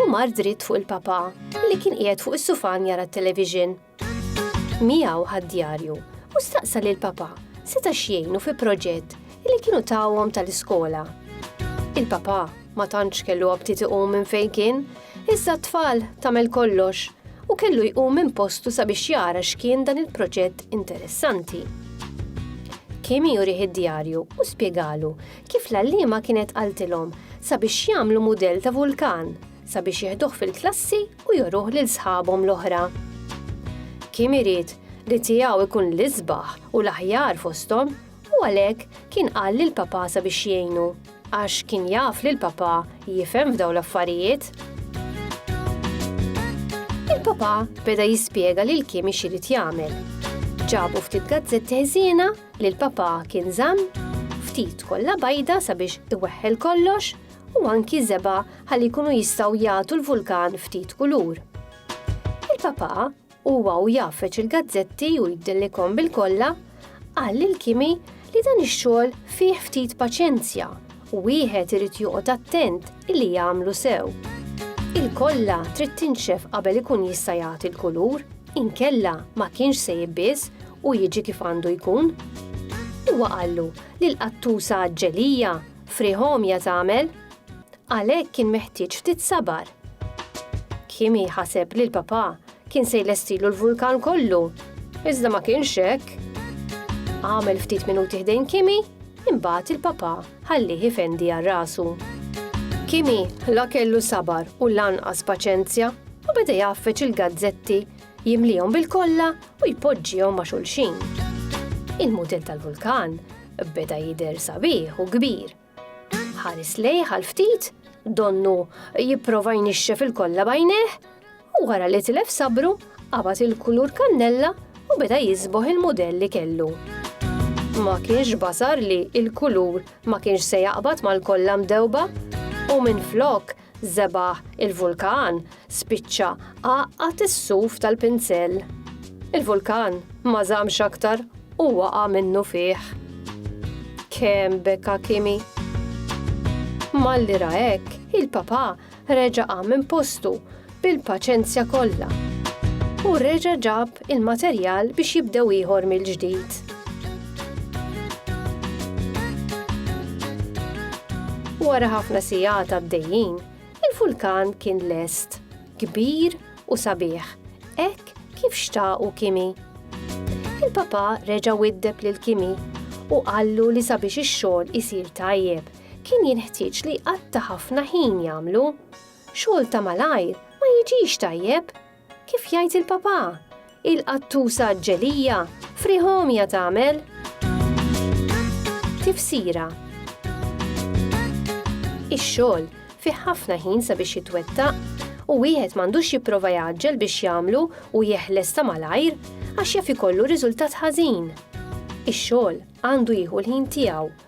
u mar dritt fuq il-Papa li kien qiegħed fuq is-sufan jara t-television. Miegħu ħad-djarju u staqsa lil Papa seta' x'jgħinu fi proġett li kienu tawhom tal-iskola. Il-Papa ma tantx kellu aptit iqum minn fejn kien, iżda t-tfal tagħmel kollox u kellu jqum minn postu sabiex jara x'kien dan il-proġett interessanti. Kim jurih id-djarju u spjegalu Kif l-għalliema kienet qaltilhom sabiex jagħmlu mudell ta' vulkan sabiex jieħduh fil-klassi u joruh lil sħabhom l-oħra. Kim irid li tiegħu ikun l-isbaħ u l-aħjar fosthom u għalhekk kien qal lil papà sabiex jgħinu għax kien jaf li l-papà jifhem f'daw l-affarijiet. Il-papà beda jispjega lil Kim ix irid jagħmel. Ġabu ftit gazzetti ħżiena li l-Papa kien żamm ftit kollha bajda sabiex iweħħel kollox u anki żeba' ħalli jkunu jistgħu jagħtu l-vulkan ftit kulur. Il-Papa huwa u jafeċ il-gazzetti u jdillikom bil-kollha qal lil Kimi li dan ix-xogħol fih ftit paċenzja u wieħed irid joqgħod attent illi jagħmlu sew. Il-kolla trid tinxef qabel ikun jista' jagħti l-kulur, inkella ma kienx se jibbiż u jiġi kif għandu jkun. Huwa qallu li l-qattusa ġelija friħomja tagħmel għalhekk kien meħtieġ ftit sabar. Kimi ħaseb li l-papà Kien se jlestilu l-vulkan kollu, iżda ma kienx hekk. Għamel ftit minuti ħdejn Kimi, imbagħad il-papa ħallih ifendi għal rasu. Kimi la kellu sabar u lanqas paċenzja u beda jaffeċ il-gazzetti jimlihom bil-kollha u jpoġġihom ma' xulxin. Il-mudell tal-vulkan beda jidher sabiħ u kbir Ħares lejh għal ftit, donnu jipprova jnixxef il-kollha bajnejh, u wara li tilef sabru, qabad il-kulur kannella u beda jisboħ il-mudell li kellu. Ma kienx basar li il-kulur ma kienx se jaqbad mal-kollha mdewba u minflok Żebah il-vulkan spiċċa għaqqad is-suf tal-pinsell. Il-vulkan ma żammx aktar u waqa' minnu fih. Kemm beka Kimi! Malli ra hekk, il-papà reġa' qam minn postu bil-paċenzja kollha u reġa' ġab il-materjal biex jibdew ieħor mill-ġdid. Wara ħafna sigħat għaddejjin, il-vulkan kien lest, kbir u sabiħ, hekk kif xtaqu Kimi. Il-Papa reġa' widdeb lil Kimi u qallu li sabiex ix-xogħol isir tajjeb, kien jinħtieġ li jqatta' ħafna ħin jagħmlu. Xogħol ta' malajr ma jiġix tajjeb, Kif jgħid il-papà, il-qattusa ġelija, friegħ għomja tagħmel. Tifsira Ix-xogħol fih ħafna ħin sabiex jitwettaq u wieħed m'għandux jipprova jgħaġġel biex jagħmlu u jeħles ta' malajr għax jaf ikollu riżultat ħażin. Ix-xogħol għandu jieħu l-ħin tiegħu